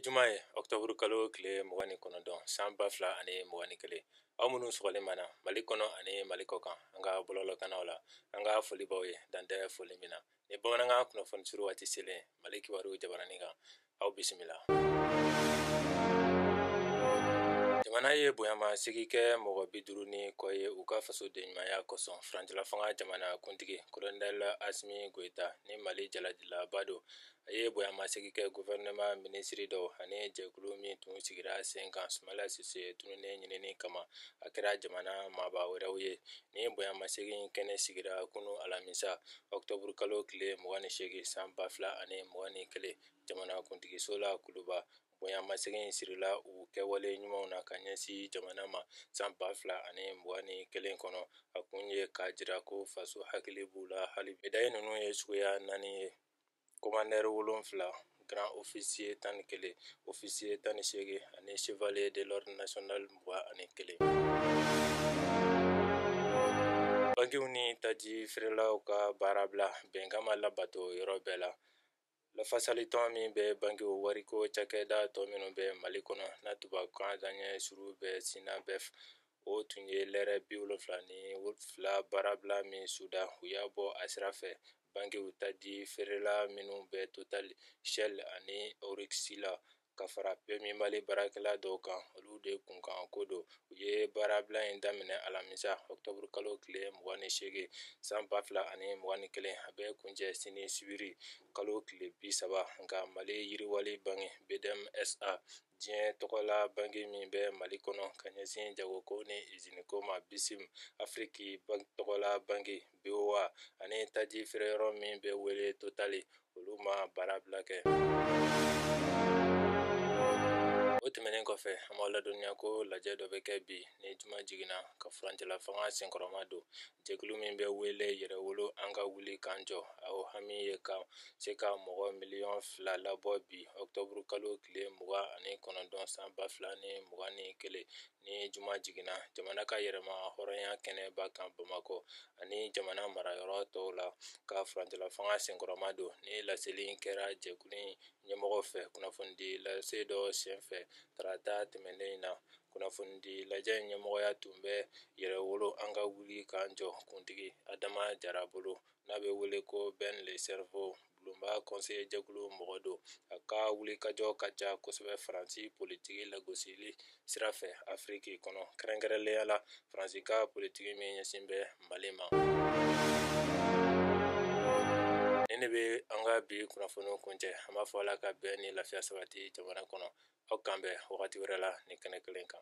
juma ye ɔktɔburu kalo tile mugan ni kɔnɔntɔn san ba fila ani mugan ni kelen aw minnu sɔgɔlen b'an na mali kɔnɔ ani mali kɔkan an ka bɔlɔlɔkannaw la an ka foli b'aw ye dan tɛ foli min na ni bamanankan kunnafoni surun waati selen mali kibaru jabaranin kan aw bisimila jamana ye bonyamasegin kɛ mɔgɔ bi duuru ni kɔ ye u ka fasodenɲumanya kosɔn furancɛlafanga jamana kuntigi kolonɛl asimi goyita ni mali jaladilaba don a ye bonyamasegin kɛ guvɛrɛnɛma minisiri dɔw ani jɛkulu min tun sigira sen kan sumala sise tununnen ɲinini kama a kɛra jamana maaba wɛrɛw ye nin bonyamasegin in kɛnɛ sigira kunu alamisa octobre kalo tile mugan ni seegin san ba fila ani mugan ni kelen jamanakuntigiso la kuluba bonyamasegin in sirila u kɛwale ɲumanw na ka ɲɛsin jamana ma san ba fila ani mugan ni kelen kɔnɔ a kun ye k'a jira ko faso hakili b'u la haali medayi ninnu ye suguya naani ye Komandɛri wolonwula garan ofisiye tan ni kelen ofisiye tan ni seegin ani chevalier de l'ordre national mugan ani kelen bankiw ni taji feerelaw ka baarabila bɛnkan ma labato yɔrɔ bɛɛ la lafasalitɔn min bɛ bankiw wariko cakɛda tɔ minnu bɛ mali kɔnɔ n'a tubabukan daɲɛ surun bɛ synabef o tun ye lɛrɛ bi wolonwula ni fila baarabila min suda u y'a bɔ a sira fɛ bankiw taji feerela minnu bɛ total shell ani oryx la ka fara pmu mali baarakɛla dɔw kan olu de kunkan ko don u ye baarabila in daminɛ alamisa octobre kalo tile 28 san 2021 a bɛ kuncɛ sini sibiri kalo tile 30 nka mali yiriwali banki bdm sa diɲɛ tɔgɔla banki min bɛ mali kɔnɔ ka ɲɛsin jagoko ni iziniko ma bicim afiriki tɔgɔla banki boa ani taji feereyɔrɔ min bɛ wele totali olu ma baarabila kɛ o tɛmɛnen kɔfɛ an b'aw ladɔnniya ko lajɛ dɔ bɛ kɛ bi ni juma jiginna ka furancɛlafanga senkɔrɔmadon jɛkulu min bɛ wele yɛrɛwolo an ka wuli k'an jɔ a hami ye ka se ka mɔgɔ miliyɔn fila labɔ bi ɔktɔburu kalo tile mugan ani kɔnɔntɔn san ba fila ni mugan ni kelen ni juma jiginna jamana ka yɛrɛmahɔrɔnya kɛnɛba kan bamakɔ ani jamana marayɔrɔ tɔw la ka furancɛlafanga senkɔrɔmadon nin laseli kɛra jɛkulu ɲɛmɔgɔ fɛ kunnafonidi lase dɔ senfɛ tarata tɛmɛnen in na kunnafonidi lajɛ in ɲɛmɔgɔya tun bɛ yɛrɛwolo an ka wuli k'an jɔ kuntigi adama jara bolo n'a bɛ wele ko ben le cerveau bulonba kɔnseye jɛkulu mɔgɔ don a ka wulikajɔ ka ca kosɛbɛ faransi politiki lagosili sira fɛ afiriki kɔnɔ kɛrɛnkɛrɛnnenya la faransi ka politiki min ɲɛsin bɛ mali ma nin de bɛ an ka bi kunnafoniw kuncɛ an b'a fɔ ala ka bɛn ni lafiya sabati jamana kɔnɔ aw k'an bɛn wagati wɛrɛ la nin kɛnɛ kelen kan